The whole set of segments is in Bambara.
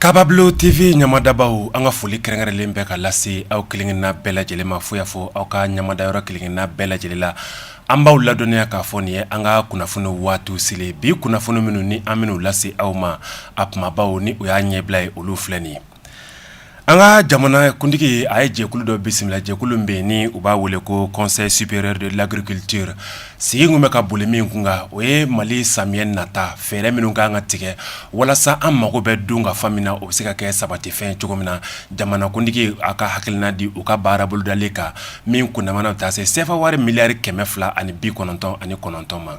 Kababulo TV ɲamadabaw an ka foli kɛrɛnkɛrɛnlen bɛ ka lase aw kelenkelenna bɛɛ lajɛlen ma fo y'a fɔ aw ka ɲamada yɔrɔ kelenkelenna bɛɛ lajɛlen la an b'aw ladɔnniya k'a fɔ nin ye an ka kunnafoni waatiw selen bi kunnafoni minnu ni an minnu lase aw ma a kumabaw ni o y'a ɲɛbila ye olu filɛ nin ye An ka jamana kuntigi a ye jɛkulu dɔ bisimila jɛkulu bɛ yen ni u b'a wele ko Conseil supérieur de l'agriculture sigi kun bɛ ka boli min kun kan o ye mali samiyɛ nata fɛɛrɛ minnu ka kan ka tigɛ walasa an mago bɛ dunkafa min na o bɛ se ka kɛ sabatifɛn cogo min na jamanakuntigi a ka hakilina di u ka baara bolodalen kan min kundama na taa se sefa wari miliyari kɛmɛ fila ani bi kɔnɔntɔn ani kɔnɔntɔn ma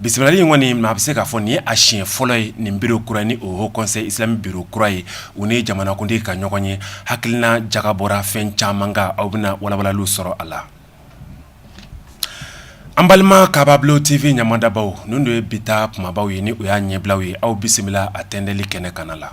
Bisimilali in kɔni maa bɛ se k'a fɔ nin ye a siɲɛ fɔlɔ ye nin biro kura ni o Haut Conseil islamique biro kura ye u ni jamanakuntigi ka ɲɔgɔn ye hakilina jagabɔra fɛn caman kan aw bɛna walawalali sɔrɔ a la an balima Kababulo TV ɲamadabaw ninnu ye bi ta kumabaw ye ni o y'a ɲɛbilaw ye aw bisimila a tɛndɛli kɛnɛ kana la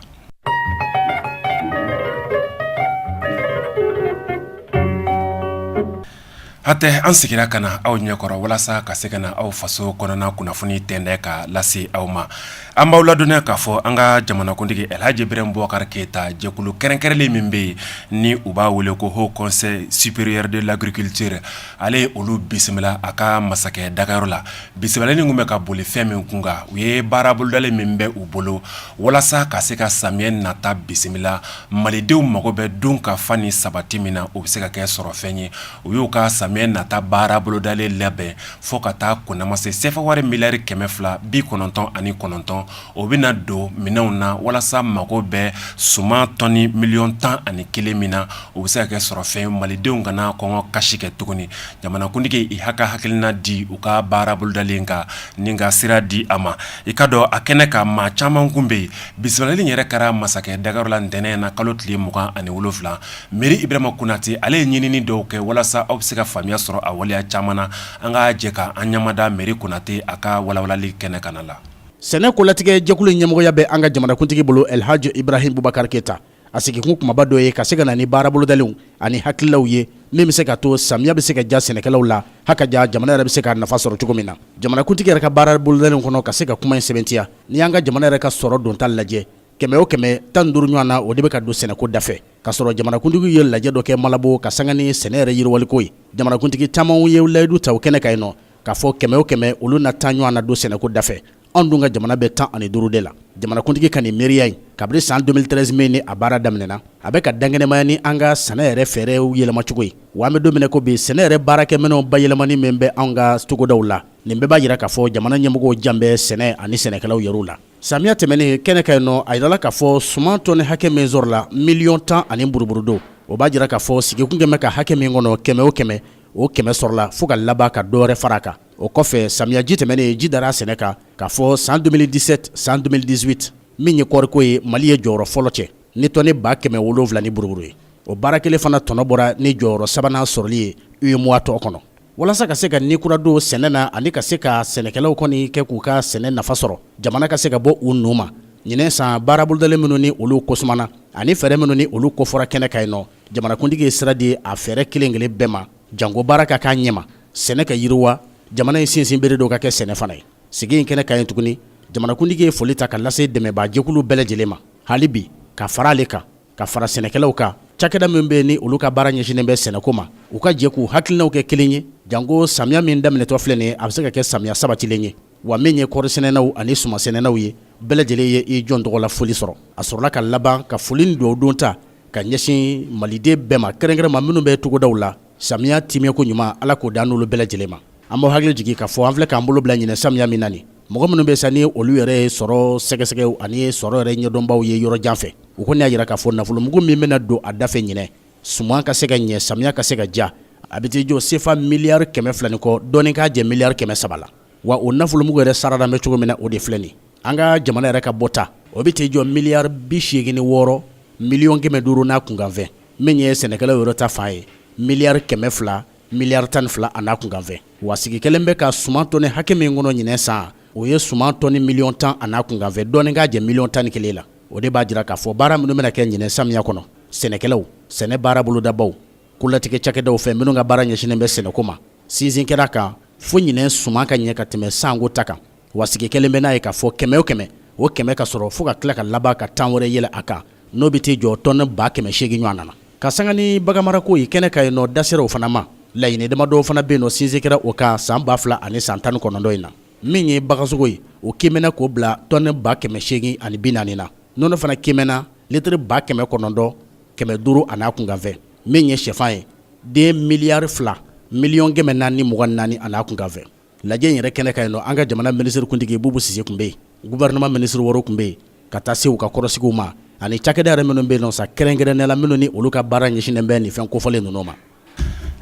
Hatɛ an seginna ka na aw ɲɛkɔrɔ walasa ka se ka na aw faso kɔnɔna kunnafoni tɛndɛ ka lase aw ma an b'aw ladɔnniya k'a fɔ an ka jamanakuntigi alihaji Ibrahim Bubakari Keyita jɛkulu kɛrɛnkɛrɛnlen min bɛ yen ni u b'a wele ko Haut Conseil supérieur de l'agriculture ale ye olu bisimila a ka masakɛ dagayɔrɔ la bisimilali in kun bɛ ka boli fɛn min kun kan o ye baara bolodalen min bɛ u bolo walasa ka se ka samiyɛ nata bisimila malidenw mago bɛ dunkafa ni sabati min na o bɛ se ka kɛ sɔrɔ fɛn ye u y'u ka samiyɛ nata baara bolodalen labɛn fo ka taa kundama se sefa wari miliyari kɛmɛ fila bi kɔnɔntɔn ani kɔnɔntɔn o bɛ na don minɛnw na walasa mago bɛ suman tɔni miliyɔn tan ani kelen min na o bɛ se ka kɛ sɔrɔ fɛn malidenw kana kɔngɔ kasi kɛ tuguni jamanakuntigi y'a ka hakilina di u ka baara bolodalen kan ni ka sira di a ma i k'a dɔn a kɛnɛ kan maa caman kun bɛ yen Bisimilali yɛrɛ kɛra masakɛ dagayɔrɔ la ntɛnɛn na kalo tile mugan ani wolofila Meri Ibrahima Konate ale ye ɲinini dɔw kɛ walasa aw bɛ se ka faamuya sɔrɔ a waleya caman na an ka jɛ ka an ɲamada Meri Konate a ka walawalali kɛnɛ kana la sɛnɛ kolatigɛ jɛkulu ɲɛmɔgɔya bɛ an ka jamanakuntigi bolo alihaji Ibrahim Bubakari Keyita a sigikun kumaba dɔ ye ka se ka na ni baarabolodalenw ani hakililaw ye min bɛ se ka to samiya bɛ se ka ja sɛnɛkɛlaw la ha ka ja jamana yɛrɛ bɛ se ka nafa sɔrɔ cogo min na jamanakuntigi yɛrɛ ka baarabolodalenw kɔnɔ ka se ka kuma in sɛbɛntiya n'i y'an ka jamana yɛrɛ ka sɔrɔ donta lajɛ kɛmɛ o kɛmɛ tan duuru ɲɔgɔn na o de bɛ ka don sɛnɛko dafɛ k'a sɔrɔ jamanakuntigiw ye lajɛ dɔ kɛ Malabo ka sanga ni sɛnɛ yɛrɛ yiriwaliko ye jamanakuntigi caman ye layidu ta o kɛnɛ kan yen nɔ k'a fɔ kɛmɛ o kɛmɛ olu na tan ɲɔgɔn na don sɛnɛko dafɛ anw dun ka jamana bɛ tan ani duuru de la jamanakuntigi ka nin miiriya in kabiri san 2013 min ni a baara daminɛna a bɛ ka dankɛnɛmaya ni an ka sɛnɛ yɛrɛ fɛɛrɛw yɛlɛmacogo ye wa an bɛ don min ko bi sɛnɛ yɛrɛ baarakɛminɛw bayɛlɛmani min bɛ anw ka togodaw la nin bɛɛ b'a jira k'a fɔ jamana ɲɛmɔgɔw jan bɛ sɛnɛ ani sɛnɛkɛlaw yɛrɛw la samiya tɛmɛnen kɛnɛ kan yen nɔ a yirala k'a fɔ suman tɔni hakɛ min sɔrɔla miliyɔn tan ani buruburu dɔ o b'a jira k'a fɔ sigi kun kɛlen bɛ ka hakɛ min kɔnɔ kɛmɛ o kɛmɛ o kɛmɛ sɔrɔla fo ka laban ka dɔwɛrɛ fara a kan o kɔfɛ samiyaji tɛmɛnen ji dara sɛnɛ kan k'a fɔ san 2017 san 2018 min ye kɔɔriko ye mali ye jɔyɔrɔ fɔlɔ cɛ ni tɔni ba kɛmɛ wolonwula ni buruburu ye o baara kelen fana tɔnɔ bɔra ni jɔyɔrɔ sabanan sɔrɔli ye UEMOA tɔn kɔnɔ walasa ka se ka ni kura don sɛnɛ na ani ka se ka sɛnɛkɛlaw kɔni kɛ k'u ka sɛnɛ nafa sɔrɔ jamana ka se ka bɔ u nun ma ɲinɛ san baara bolodalen minnu ni olu kosumana ani fɛɛrɛ minnu ni olu kofɔra kɛnɛ kan yen nɔ jamanakuntigi ye sira di a fɛɛrɛ kelen kelen bɛɛ ma janko baara ka k'a ɲɛma sɛnɛ ka yiriwa jamana in sinsinbere dɔ ka kɛ sɛnɛ fana ye sigi in kɛnɛ kan yen tuguni jamanakuntigi ye foli ta ka lase dɛmɛbaajɛkulu bɛɛ lajɛlen ma hali bi ka fara ale kan ka fara sɛnɛkɛlaw kan cakɛda min bɛ ni olu ka baara ɲɛsinnen bɛ sɛnɛko ma u ka jɛ k'u hakilinaw kɛ kelen ye janko samiya min daminɛtɔ filɛ nin ye a bɛ se ka kɛ samiya sabatilen ye wa min ye kɔɔrisɛnɛnaw ani sumansɛnɛnaw ye bɛɛ lajɛlen ye i jɔn tɔgɔ la foli sɔrɔ a sɔrɔla ka laban ka foli ni dugawu don ta ka ɲɛsin maliden bɛɛ ma kɛrɛnkɛrɛn ma minnu bɛ togodaw la samiya timɛko ɲuman ala k'o dan n'olu bɛɛ lajɛlen ma an b'aw hakili jigin k'a fɔ an filɛ k'an bolo bila ɲinɛ samiya min na nin mɔgɔ minnu bɛ sa ni olu yɛrɛ ye sɔrɔ sɛgɛsɛgɛw ani sɔrɔ yɛrɛ ɲɛdɔnbaw ye yɔrɔ jan fɛ u kɔni y'a jira k'a fɔ nafolomugu min bɛna don a dafɛ ɲinɛ suman ka se ka ɲɛ samiya ka se ka ja a bɛ t'i jɔ sefa miliyari kɛmɛ fila ni kɔ dɔɔni k'a jɛ miliyari kɛmɛ saba la wa o nafolomugu yɛrɛ saradalen bɛ cogo min na o de filɛ nin an ka jamana yɛrɛ ka bɔta o bɛ t'i jɔ miliyari bi seegin ni wɔɔrɔ miliyɔn kɛmɛ duuru n'a kunkanfɛn min ye sɛnɛkɛlaw yɛrɛ ta fan ye miliyari kɛmɛ fila miliyari tan ni fila a n'a kunkanfɛn wa sigi kɛlen bɛ ka suman tɔni hakɛ min kɔnɔ ɲinɛ san o ye suman tɔni miliyɔn tan a n'a kunkanfɛ dɔɔni k'a jɛ miliyɔn tan ni kelen la o de b'a jira k'a fɔ baara minnu bɛna kɛ ɲinɛ samiya kɔnɔ sɛnɛkɛlaw sɛnɛ baara bolodabaw kolatigɛ cakɛdaw fɛ minnu ka baara ɲɛsinnen bɛ sɛnɛko ma sinsin kɛra a kan fo ɲinɛ suman ka ɲɛ ka tɛmɛ sanko ta kan wa sigi kɛlen bɛ n'a ye k'a fɔ kɛmɛ o kɛmɛ o kɛmɛ ka sɔrɔ fo ka tila ka laban ka tan wɛrɛ yɛlɛ a kan n'o bɛ t'i jɔ tɔni ba kɛmɛ seegin ɲɔgɔn na ka sanga ni baganmarako ye kɛnɛ kan yen nɔ da sera o fana ma laɲini damadɔ fana bɛ yen nɔ sinsin kɛra o kan san ba fila ani san tan ni kɔnɔntɔn in na min ye bagansogo ye o kiimɛna k'o bila tɔni ba kɛmɛ seegin ani bi naani na nɔnɔ fana kiimɛna litiri ba kɛmɛ kɔnɔntɔn kɛmɛ duuru an'a kunkanfɛ min ye sɛfan ye den miliyari fila miliyɔn kɛmɛ naani ni mugan ni naani an'a kunkanfɛ lajɛ in yɛrɛ kɛnɛ kan yen nɔ an ka jamana minisirikuntigi bubu sise tun bɛ yen gouvernement minisiri wɔɔrɔ tun bɛ yen ka taa se u ka kɔrɔsigiw ma ani cakɛda yɛrɛ minnu bɛ yen nɔ sa kɛrɛnkɛrɛnnenya la minnu ni olu ka baara ɲɛsinnen bɛ nin fɛn kofɔlen ninnu ma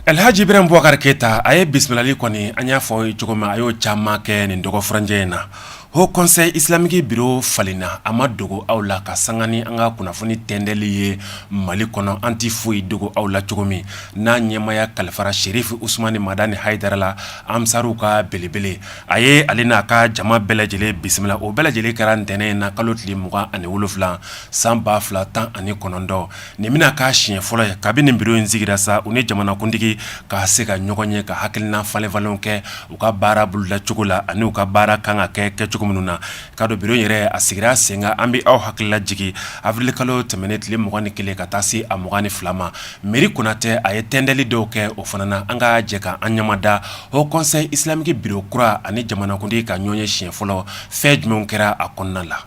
alhaji ibrahim bubakari keyita a ye bisimilali kɔni an y'a fɔ a ye cogo min a y'o caman kɛ nin dɔgɔfurancɛ in na Haut conseil islamique bureau falenna a ma dogo aw la ka sanga ni an ka kunnafoni tɛntɛli ye Mali kɔnɔ, an tɛ foyi dogo aw la cogo min, n'a ɲɛmaaya kalifara Serif Usumani Madani Hayidara la, ansariw ka belebele, a ye ale n'a ka jama bɛɛ lajɛlen bisimila, o bɛɛ lajɛlen kɛra ntɛnɛn in na kalo tile 27 san 2019. nin bɛna k'a siɲɛ fɔlɔ ye kabini nin bureau in sigira sa u ni jamanakuntigi ka se ka ɲɔgɔn ye ka hakilinan falenfalen kɛ u ka baara boloda cogo la ani u ka baara kan ka kɛ kɛ cogo minnu na ka don bureau yɛrɛ a sigira sen kan an bɛ aw hakilila jigin avril kalo tɛmɛnen tile 20 ni kelen ka taa se a 20 ni fila ma Meyiri Konatɛ a ye tɛntɛli dɔw kɛ o fana na an ka jɛ ka an ɲamada Haut conseil islamique bureau kura ani jamanakuntigi ka ɲɔgɔn ye siɲɛ fɔlɔ fɛn jumɛnw kɛra a kɔnɔna la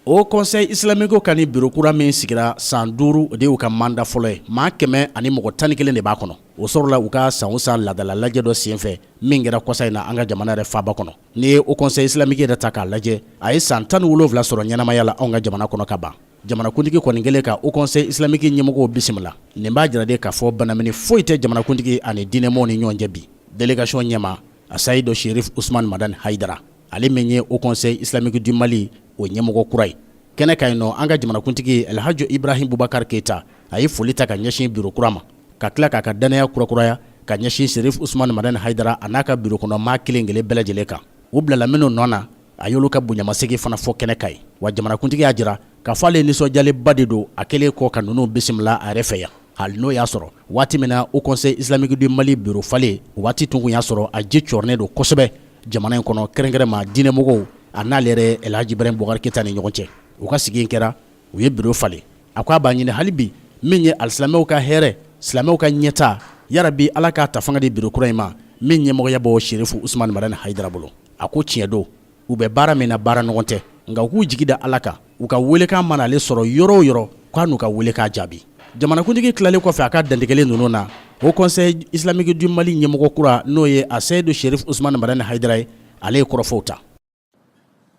Haut conseil islamique ka nin bureau kura min sigira san duuru o de y'u ka manda fɔlɔ ye maa kɛmɛ ani mɔgɔ tan ni kelen de b'a kɔnɔ o sɔrɔla u ka san o san ladala lajɛ dɔ senfɛ min kɛra kɔsa in na an ka jamana yɛrɛ faaba kɔnɔ n'i ye Haut conseil islamique yɛrɛ ta k'a lajɛ a ye san tan ni wolonwula sɔrɔ ɲɛnamaya la an ka jamana kɔnɔ ka ban jamanakuntigi kɔni kɛlen ka Haut conseil islamique ɲɛmɔgɔw bisimila nin b'a jira de k'a fɔ banamini foyi tɛ jamanakuntigi ani diinɛmɔgɔw ni ɲɔgɔn cɛ bi délégation ɲɛmaa Aseyidu Serif Usumani Madani Hayidara ale min ye Haut conseil islamique du Mali o ɲɛmɔgɔ kura ye kɛnɛ kan yen nɔ an ka jamanakuntigi El Hadji Ibrahim Boubacar Keita a ye foli ta ka ɲɛsin bureau kura ma ka tila k'a ka dannaya kurakuraya ka ɲɛsin Serif Usumani Madani Hayidara a n'a ka bureau kɔnɔ maa kelen kelen bɛɛ lajɛlen kan u bilala minnu nɔ na a y'olu ka bonyamasegin fana fɔ kɛnɛ kan yen wa jamanakuntigi y'a jira K'a fɔ ale nisɔndiyalenba de don a kɛlen kɔ ka ninnu bisimila a yɛrɛ fɛ yan hali n'o y'a sɔrɔ waati min na Haut conseil islamique du Mali bureau falen o waati tun y'a sɔrɔ a ji cɔrɔnen don kosɛbɛ jamana in kɔnɔ kɛrɛnkɛrɛnma diinɛmɔgɔw a n'ale yɛrɛ El Hadji Ibrahim Boubacar Keita ni ɲɔgɔn cɛ u ka sigi in kɛra u ye bureau falen a ko a b'a ɲini hali bi min ye alisilamɛw ka hɛrɛ silamɛw ka ɲɛtaa yarabi Ala k'a ta fanga di bureau kura in ma min ɲɛmɔgɔya b'o Sherifu Usumani Madani Hayidara bolo a ko tiɲɛ don u bɛ baara min na baara nɔgɔn tɛ nka u k'u jigi da ala kan u ka weelekan mana ale sɔrɔ yɔrɔ o yɔrɔ k'a n'u ka weelekan jaabi jamanakuntigi tilalen kɔfɛ a ka dantigɛli ninnu na Haut conseil islamique du Mali ɲɛmɔgɔ kura n'o ye Aseyidu Serif Usumani Madani Hayidara ye ale ye kɔrɔfɔw ta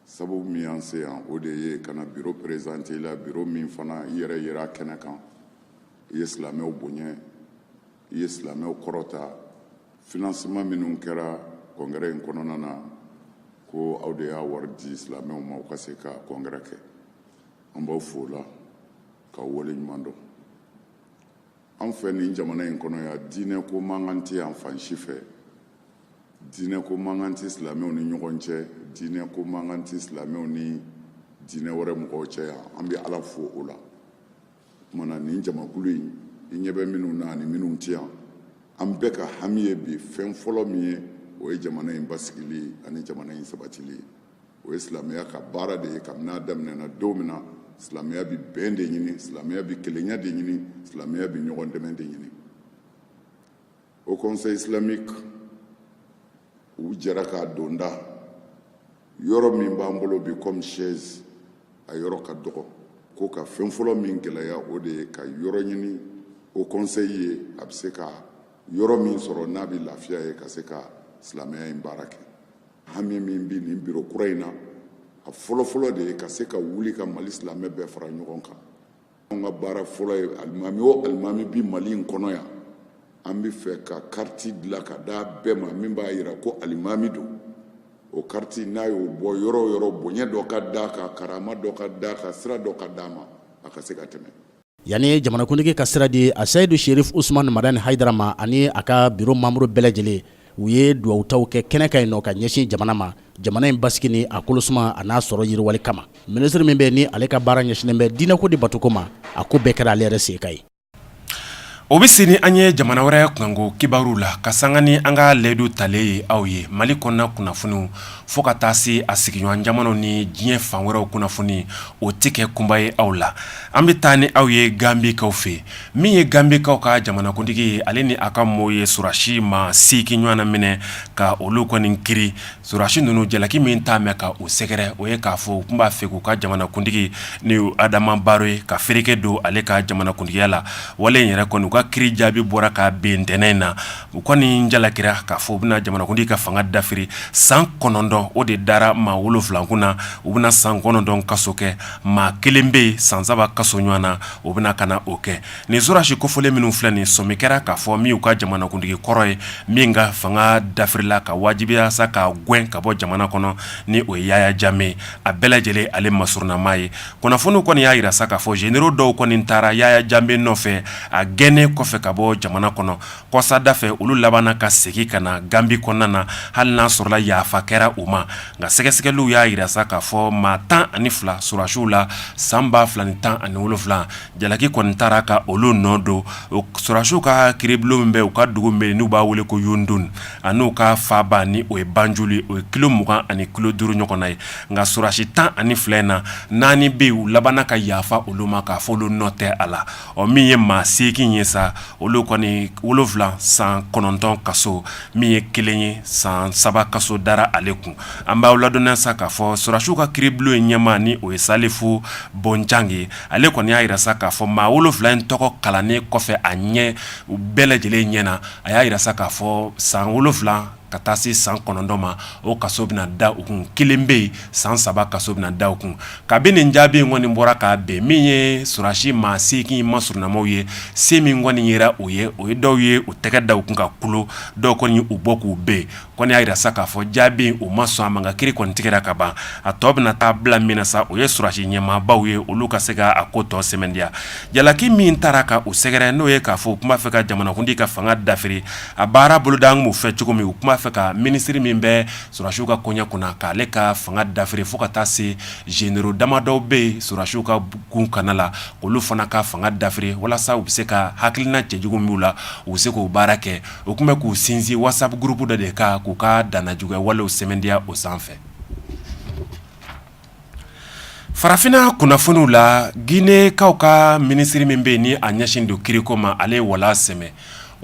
sabu min y'an se yan o de ye ka na bureau présenté i la bureau min fana i yɛrɛ yera a kɛnɛ kan i ye silamɛw bonya i ye silamɛw kɔrɔta financement minnu kɛra congrès in kɔnɔna na ko aw de y'a wari di silamɛw ma u ka se ka congrès kɛ an b'aw fo o la k'aw waleɲuman dɔn an fɛ nin jamana in kɔnɔ yan diinɛ ko mankan tɛ yan fan si fɛ diinɛ ko mankan tɛ silamɛw ni ɲɔgɔn cɛ diinɛ ko mankan tɛ silamɛw ni diinɛ wɛrɛ mɔgɔw cɛ yan an bɛ ala fo o la tuma na nin jamakulu in i ɲɛ bɛ minnu na ani minnu tɛ yan an bɛɛ ka hami ye bi fɛn fɔlɔ min ye o ye jamana in basigili ani jamana in sabatili o ye silamɛya ka baara de ye kabini a daminɛna don min na silamɛya bi bɛn de ɲini silamɛya bi kelenya de ɲini silamɛya bi ɲɔgɔn dɛmɛ de ɲini haut conseil islamique u jɛra k'a donda yɔrɔ min b'an bolo bi comme siège a yɔrɔ ka dɔgɔ ko ka fɛn fɔlɔ min gɛlɛya o de ye ka yɔrɔ ɲini haut conseil ye a bɛ se ka yɔrɔ min sɔrɔ n'a bɛ lafiya yen ka se ka silamɛya in baara kɛ hami min bɛ nin biro kura in na a fɔlɔfɔlɔ de ye ka se ka wuli ka mali silamɛ bɛɛ fara ɲɔgɔn kan an ka baara fɔlɔ ye alimami o alimami bi mali in kɔnɔ yan an bɛ fɛ ka kariti dilan ka d'a bɛɛ ma min b'a jira ko alimami don o kariti n'a y'o bɔ yɔrɔ o yɔrɔ bonya dɔ ka d'a kan karama dɔ ka d'a kan sira dɔ ka d'a ma a ka se ka tɛmɛ yanni jamanakuntigi ka sira di aseyidu sherif usman madani hayidara ma ani a ka biro manburu bɛɛ lajɛlen u ye dugawutaw kɛ kɛnɛ kan yen nɔ ka ɲɛsin jamana ma jamana in basigi ni a kolosuma a n'a sɔrɔ yiriwali kama minisiri min bɛ yen ni ale ka baara ɲɛsinnen bɛ diinɛko de batoko ma a ko bɛɛ kɛra ale yɛrɛ se ka ye o bɛ se ni an ye jamana wɛrɛ kunko kibaruw la ka sanga ni an ka layidu talen ye aw ye mali kɔnɔna kunnafoniw fo ka taa se a sigiɲɔgɔn jamanaw ni diɲɛ fan wɛrɛw kunnafoni o tɛ kɛ kunpa ye aw la an bɛ taa ni aw ye ganbikaw fɛ min ye ganbikaw ka jamanakuntigi ye ale ni a ka maaw ye sɔrɔsi maa seegin ɲɔgɔn na minɛ ka olu kɔni kiiri sɔrɔsi ninnu jalaki min t'a mɛn ka u sɛgɛrɛ o ye k'a fɔ u tun b'a fɛ k'u ka jamanakuntigi ni adama baro ye ka fereke don ale ka jamanakuntigiya la wale in yɛrɛ kɔni u ka kiiri jaabi bɔra ka bɛn ntɛnɛn in na u kɔni jalakira k'a fɔ u bɛna jamanakuntigi ka fanga dafiri san kɔnɔntɔn o de dara maa wolonwula kunna u bɛna san kɔnɔntɔn kaso kɛ maa kelen bɛ yen san saba kaso ɲɔgɔn na o bɛna ka na o kɛ nin sɔrɔsi kofɔlen minnu filɛ nin sɔmi kɛra k'a fɔ min y'u ka jamanakuntigi kɔrɔ ye min ka fanga dafirila k'a wajibiya sa k'a gɛn ka bɔ jamana kɔnɔ ni o ye yaya jamɛ a bɛɛ lajɛlen ale masurunnamaa ye kunnafoniw kɔni y'a jira sa k'a fɔ zenero dɔw kɔni taara yaya jamɛ nɔfɛ a gɛnnen kɔfɛ ka bɔ jamana kɔnɔ kɔsada fɛ olu labanna ka segin ka na ganbi kɔnɔna na hali n'a sɔrɔla yafa kɛra u ma nka sɛgɛsɛgɛliw y'a jira sa k'a fɔ maa tan ani fila sɔrɔsiw la san ba fila ni tan ani wolonfila jalaki kɔni taara ka olu nɔ don sɔrɔsiw ka kiiribulon min bɛ u ka dugu min bɛ n'u b'a wele ko yundum a n'u ka faaba ni o ye banjul ye o ye kilo mugan ani kilo duuru ɲɔgɔn na ye nka sɔrɔsi tan ani fila in na naani bɛ yen u labanna ka yafa olu ma k'a fɔ olu nɔ tɛ a la Ɔ min ye maa segin ye sa olu kɔni wolofila san kɔnɔntɔn kaso min ye kelen ye san saba kaso dara ale kun an b'aw ladɔnniya sa k'a fɔ sɔrɔdasiw ka kiiribulon in ɲɛmaa ni o ye Salifu Bonjan ye ale kɔni y'a jira sa k'a fɔ maa wolofila in tɔgɔ kalannen kɔfɛ a ɲɛ u bɛɛ lajɛlen ɲɛna a y'a jira sa k'a fɔ san wolofila ka taa se san kɔnɔntɔn ma o kaso bɛna da u kun kelen bɛ yen san saba kaso bɛna da u kun kabini nin jaabi in kɔni bɔra ka bɛn min ye sɔrɔdasi maa segin masurunamaw ye sa min kɔni yera o ye o ye dɔw ye u tɛgɛ da u kun ka kulo dɔw kɔni u bɔ k'u bɛn kɔni y'a jira sa k'a fɔ jaabi in u ma sɔn a ma nka kiiri kɔni tigɛra ka ban a tɔ bɛna taa bila min na sa o ye sɔrɔdasi ɲɛmaabaw ye olu ka se k'a ko tɔ sɛmɛntiya jalaki min taara ka u sɛgɛrɛ n'o ye k'a fɔ u tun b'a fɛ ka jamanakuntigi ka fanga dafi A baara bolodalen b'u fɛ cogo min u tun b'a fɛ ka minisiri min bɛ sɔrɔdasiw ka koɲa kunna k'ale ka fanga dafiri fo ka taa se zenero damadɔw bɛ yen sɔrɔdasiw ka kunkanna la k'olu fana ka fanga dafiri walasa u bɛ se ka hakilina cɛjugu min b'u la u bɛ se k'o baara kɛ u tun bɛ k'u sinsin WhatsApp gurupu dɔ de kan k'u ka dannajuguya walew sɛmɛntiya o sanfɛ Farafinna kunnafoniw la Ginekaw ka minisiri min bɛ yen ni a ɲɛsinnen don kiiriko ma, ale ye wala sɛmɛ.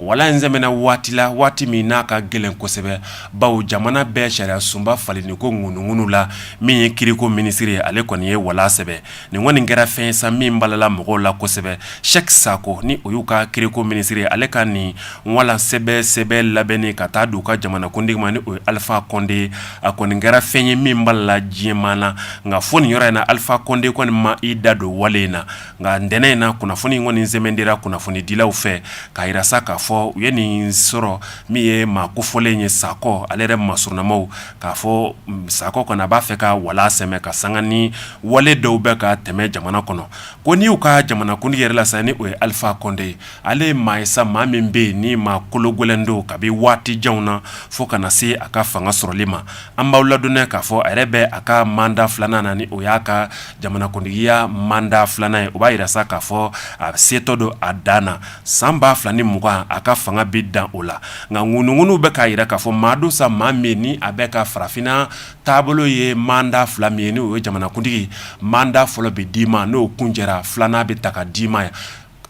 Wala in sɛmɛna waati la, waati min n'a ka gɛlɛn kosɛbɛ, bawo jamana bɛɛ sariyasunba falenni ko ŋununŋunu la, min ye kiiriko minisiri ye, ale kɔni ye wala sɛmɛ. Nin kɔni kɛra fɛn ye sa, min balala mɔgɔw la kosɛbɛ. Sɛki Sako, ni o y'u ka kiiriko minisiri ye, ale ka nin wala sɛmɛ sɛbɛn labɛnni ka taa di u ka jamanakuntigi ma, ni o ye Alifa Kɔnde ye. A kɔni kɛra fɛn ye min balala diɲɛ maa na nka fo nin yɔrɔ in na Alifa Kɔnde kɔni ma i da don wale in na nka ntɛnɛn in na kunnafoni kɔni sɛmɛntiyara kunnafonidilaw fɛ k'a jira sa k'a fɔ u ye nin sɔrɔ min ye maa kofɔlen ye Sako ale yɛrɛ masurunamaw k'a fɔ Sako kɔni a b'a fɛ ka wala sɛmɛ ka sanga ni wale dɔw bɛ ka tɛmɛ jamana kɔnɔ ko n' y'u ka jamanakuntigi yɛrɛ la sa ni o ye Alifa Kɔnde ye Ale ye maa ye sa maa min bɛ yen ni maa kologɛlɛn don kabi waati janw na fo ka na se a ka fanga sɔrɔli ma an b'aw ladɔnniya k'a fɔ a yɛrɛ bɛ a ka manda filanan na ni o y'a ka jamanakuntigiya manda filanan ye o b'a jira sa k'a fɔ a setɔ don a dan na san ba fila ni mugan a ka fanga bɛ dan o la nka ŋunuŋunu bɛ k'a jira k'a fɔ maa don sa maa min ni a bɛ ka farafinna taabolo ye manda fila min ye n' o ye jamanakuntigi manda fɔlɔ bɛ d'i ma n'o kun jɛra filanan bɛ ta ka d'i ma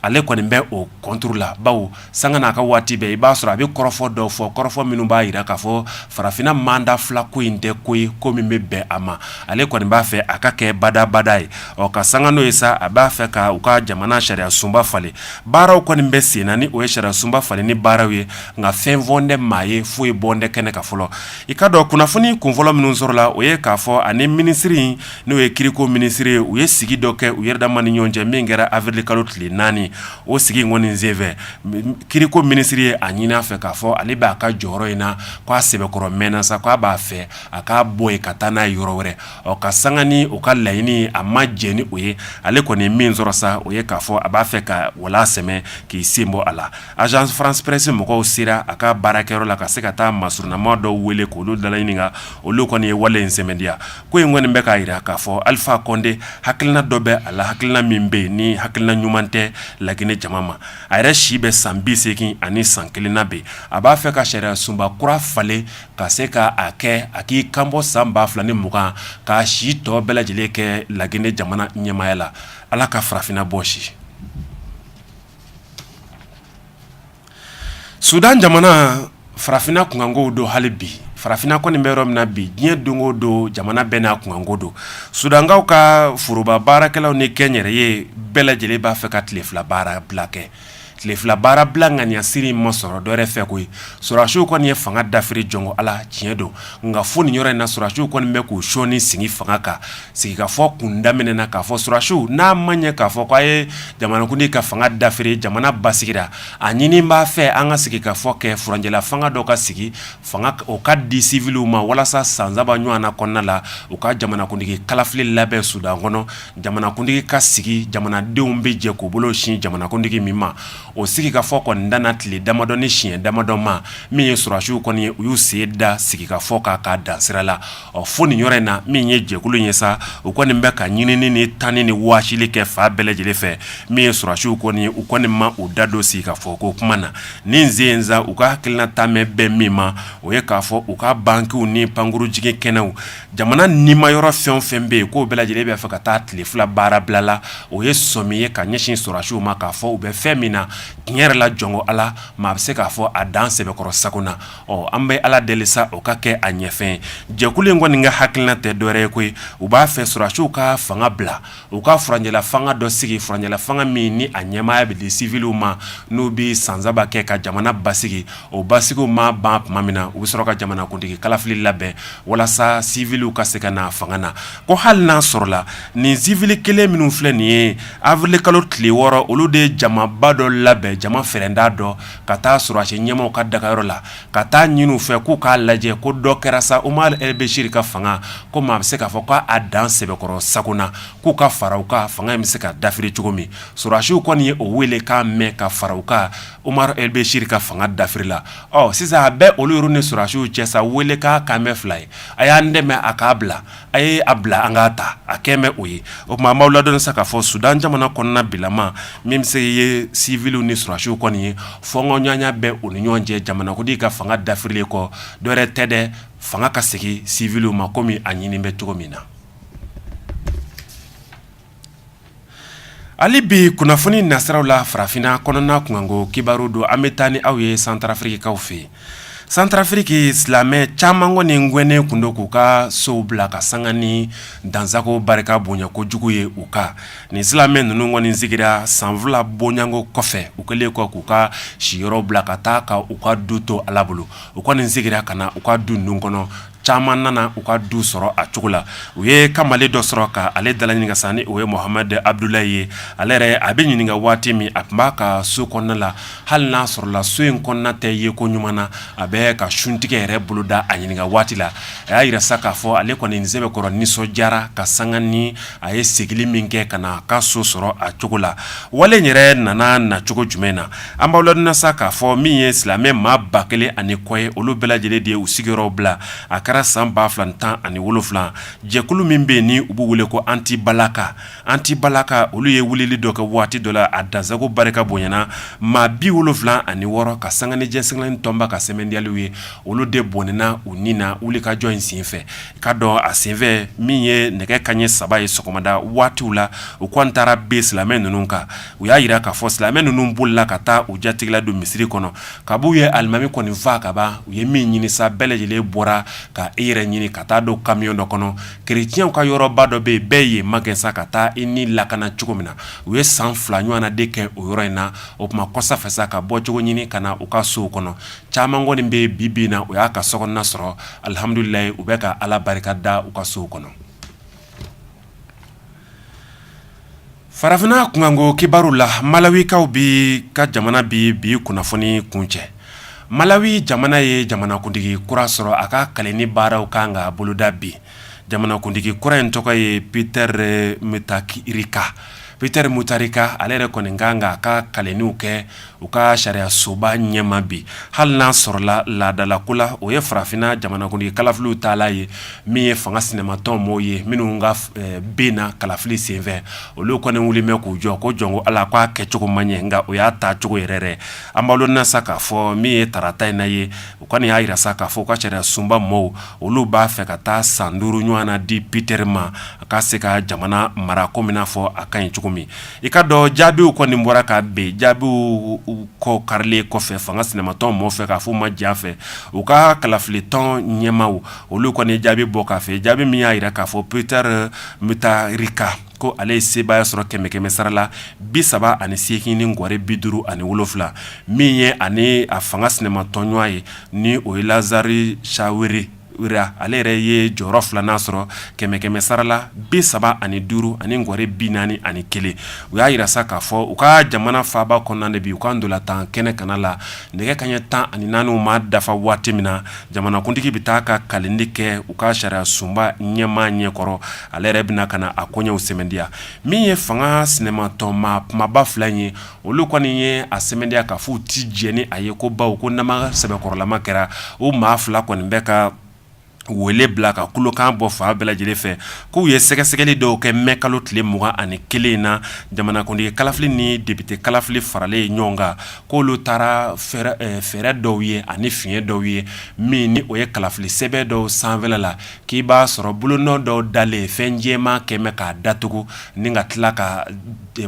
ale kɔni bɛ o kɔntiri la bawo sanga n'a ka waati bɛɛ i b'a sɔrɔ a bɛ kɔrɔfɔ dɔw fɔ kɔrɔfɔ minnu b'a jira k'a fɔ farafinna manda fila ko in tɛ ko ye ko min bɛ bɛn a ma ale kɔni b'a fɛ a ka kɛ badabada ye ɔ ka sanga n'o ye sa a b'a fɛ ka u ka jamana sariya sunba falen baaraw kɔni bɛ sen na ni o ye sariya sunba falenni baaraw ye nka fɛn fɔlen tɛ maa ye foyi bɔlen tɛ kɛnɛ kan fɔlɔ i ka dɔn kunnafoni kunfɔlɔ minnu sɔrɔla o ye k'a fɔ ani minisiri in n'o ye kiriko minisiri ye u ye sigi dɔ kɛ u yɛrɛ dama ni ɲɔgɔn cɛ min kɛra awirili kalo tile naani o sigi in kɔni senfɛ kiriko minisiri ye a ɲini a fɛ k'a fɔ ale b'a ka jɔyɔrɔ in na ko a sɛbɛkɔrɔ mɛnna sa ko a b'a fɛ a k'a bɔ yen ka taa n'a ye yɔrɔ wɛrɛ ɔ ka sanga ni u ka laɲini a ma jɛ ni o ye ale kɔni min sɔrɔ sa o ye k'a fɔ a b'a fɛ ka wala sɛmɛ k'i sen bɔ a la agence france presse mɔgɔw sera a ka baarakɛyɔrɔ la ka se ka taa masurunnama dɔw wele k'olu dalaɲininka olu kɔni ye wale in sɛmɛntiya ko in kɔni bɛ k'a yira k'a fɔ alifa kɔnde hakilina dɔ bɛ a la hakilina min bɛ yen ni hakilina ɲuman tɛ laginɛ jama ma a yɛrɛ si bɛ san bi segin ani san kelen na bi a b'a fɛ ka sariyasunba kura falen ka se ka a kɛ a k'i kanbɔ san ba fila ni mugan k'a si tɔ bɛɛ lajɛlen kɛ laginɛ jamana ɲɛmaya la ala ka farafinna bɔsi sudan jamana farafinna kunkankow don hali bi farafinna kɔni bɛ yɔrɔ min na bi diɲɛ don o don jamana bɛɛ n'a kunkanko don sudankaw ka foroba baarakɛlaw ni kɛnyɛrɛye bɛɛ lajɛlen b'a fɛ ka tile fila baara bila kɛ tile fila baara bila ŋaniyasiri in ma sɔrɔ dɔwɛrɛ fɛ koyi surasiw kɔni ye fanga dafiri jɔn ko ala tiɲɛ don nka fo nin yɔrɔ in na surasiw kɔni bɛ k'u sɔni sigi fanga kan sigikafɔ kun daminɛna k'a fɔ surasiw n'a ma ɲɛ k'a fɔ k'a ye jamanakuntigi ka fanga dafiri jamana basigira a ɲini b'a fɛ an ka sigikafɔ kɛ furancɛla fanga dɔ ka sigi fanga o ka di siviliw ma walasa san saba ɲɔgɔn na kɔnɔna la u ka jamanakuntigi kalafili labɛn sudan kɔnɔ jamanakuntigi ka sigi jamanadenw bɛ jɛ k'u bolo sin jamanakuntigi min ma o sigikafɔ kɔni danna tile damadɔ ni siɲɛ damadɔ ma min ye surasiw kɔni ye u y'u sen da sigikafɔ kan k'a dan sira la Ɔ fo nin yɔrɔ in na min ye jɛkulu ye sa u kɔni bɛ ka ɲinini ni tanni ni wɔsili kɛ fan bɛɛ lajɛlen fɛ min ye surasiw kɔni ye u kɔni ma u da don sigikafɔ ko kuma na nin sen u ka hakilina taalen bɛ min ma o ye k'a fɔ u ka bankiw ni pankurun jiginkɛnɛw jamana nimayɔrɔ fɛn o fɛn bɛ yen k'o bɛɛ lajɛlen b'a fɛ ka taa tile fila baara bila la o ye sɔmi ye ka ɲɛsin surasiw ma k'a fɔ u bɛ fɛn min na tiɲɛ yɛrɛ la jɔn ko ala maa bɛ se k'a fɔ a dan sɛbɛkɔrɔ sago na Ɔ an bɛ ala deli sa o ka kɛ a ɲɛfɛn jɛkulu in kɔni ka hakilina tɛ dɔwɛrɛ ye koyi u b'a fɛ surasiw ka fanga bila u ka furancɛla fanga dɔ sigi furancɛla fanga min ni a ɲɛmaaya bɛ di siviliw ma n'u bɛ san saba kɛ ka jamana basigi o basigi ma ban tuma min na u bɛ sɔrɔ ka jamanakuntigi kalafili labɛn walasa siviliw ka se ka na fanga na ko hali n'a sɔrɔla nin sivili kelen minnu filɛ nin ye awirili kalo tile wɔɔrɔ olu de ye jamaba dɔ labɛn jama fɛ d' dɔn ka taa surasi ɲɛmaaw ka dagayɔrɔ la ka taa ɲini u fɛ k'u k'a lajɛ ko dɔ kɛra sa omar el bɛsiri ka fanga ko maa bɛ se k'a fɔ k'a dan sɛbɛkɔrɔ sago na k'u ka fara u kan fanga in bɛ se ka dafiri cogo min surasiw kɔni ye o welekan mɛn ka fara u kan omar el bɛsiri ka fanga dafiri la ɔ sisan a bɛ olu yɛrɛ ni surasiw cɛ sa wele k'a kan mɛn fila ye a y'an dɛmɛ a k'a bila a ye a bila an k'a ta a kɛlen bɛ o ye o tuma an b'aw ladɔnni sa k'a fɔ Sudan jamana kɔnɔna bilama min bɛ se ye civiliw ni sɔrɔdasiw kɔni ye fɔnkɔɲɔgɔnya bɛ u ni ɲɔgɔn cɛ jamanakuntigi ka fanga dafirilen kɔ dɔwɛrɛ tɛ dɛ fanga ka segin civiliw ma komi a ɲini bɛ cogo min na hali bi kunnafoni nasiraw la farafinna kɔnɔna kunkanko kibaru don an bɛ taa ni aw ye santarafirikikaw fɛ santarafiriki silamɛ caman kɔni gɛnnen tun don k'u ka sow bila ka sanga ni dansago barika bonya kojugu ye u kan nin silamɛ ninnu kɔni segira san fila bonyanko kɔfɛ u kɛlen kɔ k'u ka siyɔrɔ bila ka taa ka u ka du to ala bolo u kɔni segira ka na u ka du ninnu kɔnɔ caman nana u ka du sɔrɔ a cogo la u ye kamalen dɔ sɔrɔ ka ale dala ɲininka sa ni o ye Mohamed Abdoulaye ye ale yɛrɛ a bɛ ɲininka waati min a tun b'a ka so kɔnɔna la hali n'a sɔrɔla so in kɔnɔna tɛ yeko ɲuman na a bɛ ka suntigɛ yɛrɛ boloda a ɲininka waati la a y'a jira sa k'a fɔ ale kɔni ni sɛbɛkɔrɔ nisɔndiyara ka sanga ni a ye segili min kɛ ka na a ka so sɔrɔ a cogo la wale yɛrɛ nana nacogo jumɛn na An b'aw ladɔnniya sa k'a fɔ min ye silamɛ maa ba kelen ani kɔ ye olu bɛɛ lajɛlen de ye u sigiyɔrɔw bila a kɛra san ba fila tan ani wolonwula jɛkulu min bɛ yen ni u b'u wele ko anti-balaka anti-balaka olu ye wulili dɔ kɛ waati dɔ la a dansago barika bonyana maa bi wolonwula ani wɔɔrɔ ka sanga ni diɲɛ seleke naani tɔnba ka sɛmɛntiyaliw ye olu de bɔnɛna u ni na wulikajɔ in senfɛ ka dɔn a senfɛ min ye nɛgɛ kaɲɛ saba ye sɔgɔmada waati la u kɔni taara bin silamɛ ninnu kan u y'a jira k'a fɔ silamɛ ninnu bolila ka taa u jatigila don misiri kɔnɔ kab'u ye alimami kɔni faa kaban u ye min ɲini sa bɛɛ lajɛlen bɔra ka yɛrɛ ɲini ka taa don kamiyɔn dɔ kɔnɔ kerecɛnw ka yɔrɔba dɔ bɛ yen bɛɛ ye magɛn sa ka taa i ni lakana cogo min na u ye san fila ɲɔgɔn de kɛ o yɔrɔ in na o tuma kɔsa fɛ ka bɔcogo ɲini ka na u ka sow kɔnɔ caman kɔni bɛ bi na u y'a ka so sɔrɔ alihamdulilayi u bɛ ka ala barika da u ka so kɔnɔ farafinna kunkanko kibaru la malawikaw bɛ ka jamana bɛ bi kunnafoni kuncɛ malawi jamana ye jamanakuntigi kura sɔrɔ a ka kalenni baaraw kan ka boloda bi jamanakuntigi kura in tɔgɔ ye Peter Mutharika Peter Mutharika ale yɛrɛ kɔni kan ka a ka kalenniw kɛ u ka sariyasoba ɲɛma bi hali n'a sɔrɔla laadalako la o ye farafinna jamanakuntigi kalafiliw ta ye min ye fanga sinamatɔn maaw ye minnu ka binna kalafili senfɛ olu kɔni wulilen bɛ k'u jɔ ko jɔn ko ala k'a kɛcogo ma ɲɛ nka o y'a ta cogo yɛrɛ an b'aw ladɔnniya sa k'a fɔ min ye tarata in na ye u kɔni y'a jira sa k'a fɔ ka sariyasoba maaw olu b'a fɛ ka taa san duuru ɲɔgɔn na di Peter ma a ka se ka jamana mara komi n'a fɔ a ka ɲi cogo min I k'a dɔn jaabiw kɔni bɔra ka bin jaabiw kɔ karilen kɔfɛ fanga sinamatɔn mɔgɔw fɛ k'a fɔ ma diya fɛ u ka kalafili tɔn ɲɛmaaw olu kɔni jaabi bɔ k'a fɛ jaabi min y'a jira k'a fɔ Peter Mutarika ko ale ye sebaaya sɔrɔ kɛmɛ kɛmɛ sara la bi saba ani segin ni ŋɔri bi duuru ani wolonwula min ye ani a fanga sinamatɔnɲɔgɔn ye ni o ye Lazari sawe ale yɛrɛ ye jɔyɔrɔ filanan sɔrɔ kɛmɛ kɛmɛ sara la bi saba ani duuru ani ŋɔri bi naani ani kelen u y'a jira sa k'a fɔ u ka jamana faaba kɔnɔna de bi u ka ntolatan kɛnɛ kana la nɛgɛ kanɲɛ tan ani naani ma dafa waati min na jamanakuntigi bɛ taa ka kalindi kɛ u ka sariya sunba ɲɛmaa ɲɛkɔrɔ ale yɛrɛ bɛna ka na a koɲɛw sɛmɛndiya min ye fanga sinamatɔn maa kumaba fila in ye olu kɔni ye a sɛmɛndiya k'a fɔ u tɛ jɛn ni a ye ko bawo ko namara sɛbɛkɔrɔlama kɛra o maa fila kɔni bɛ ka wele bila ka kulokan bɔ fan bɛɛ lajɛlen fɛ k'u ye sɛgɛsɛgɛli dɔw kɛ mɛ kalo tile mugan ani kelen in na jamanakuntigi kalafili ni depite kalafili faralen ye ɲɔgɔn kan k'olu taara fɛɛrɛ dɔw ye ani fiɲɛ dɔw ye min ni o ye kalafili sɛbɛ dɔw sanfɛla la k'i b'a sɔrɔ bolonɔ dɔw dalen fɛn jɛma kɛmɛ k'a datugu ni ka tila ka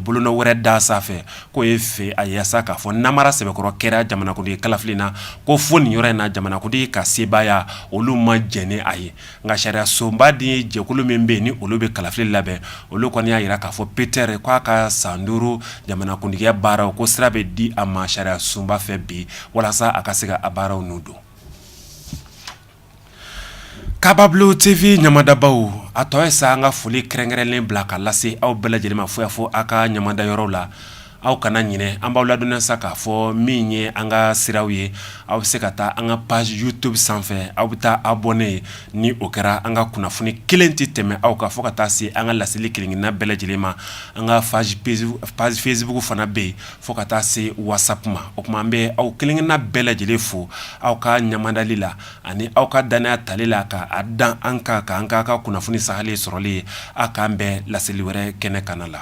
bolonɔ wɛrɛ da sanfɛ k'o ye fɛ a yasa k'a fɔ namara sɛbɛkɔrɔ kɛra jamanakuntigi kalafili na ko fo nin yɔrɔ in na jamanakuntigi ka sebaaya olu ma jɛn ni a ye nka sariya sunba de ye jɛkulu min bɛ yen ni olu bɛ kalafili labɛn olu kɔni y'a jira k'a fɔ Peter k'a ka san duuru jamanakuntigiya baaraw ko sira bɛ di a ma sariya sunba fɛ bi walasa a ka se ka a baaraw nun don Kababulo TV ɲamadabaw a tɔ ye sa an ka foli kɛrɛnkɛrɛnnen bila ka lase aw bɛɛ lajɛlen ma fo y'a fɔ aw ka ɲamada yɔrɔ la aw kana ɲinɛ an b'aw ladɔnniya sa k'a fɔ min ye an ka siraw ye aw bɛ se ka taa an ka page YouTube sanfɛ aw bɛ taa abonné ni o kɛra an ka kunnafoni kelen tɛ tɛmɛ aw kan fo ka taa se an ka laseli kelenkelenna bɛɛ lajɛlen ma an ka page Facebook fana bɛ yen Fo ka taa se WhatsApp ma o tuma an bɛ aw kelenkelenna bɛɛ lajɛlen fo aw ka ɲamadali la ani aw ka dannaya tali la ka a da an kan ka an ka ka kunnafoni sahalen sɔrɔlen ye aw k'an bɛn laseli wɛrɛ kɛnɛ kana la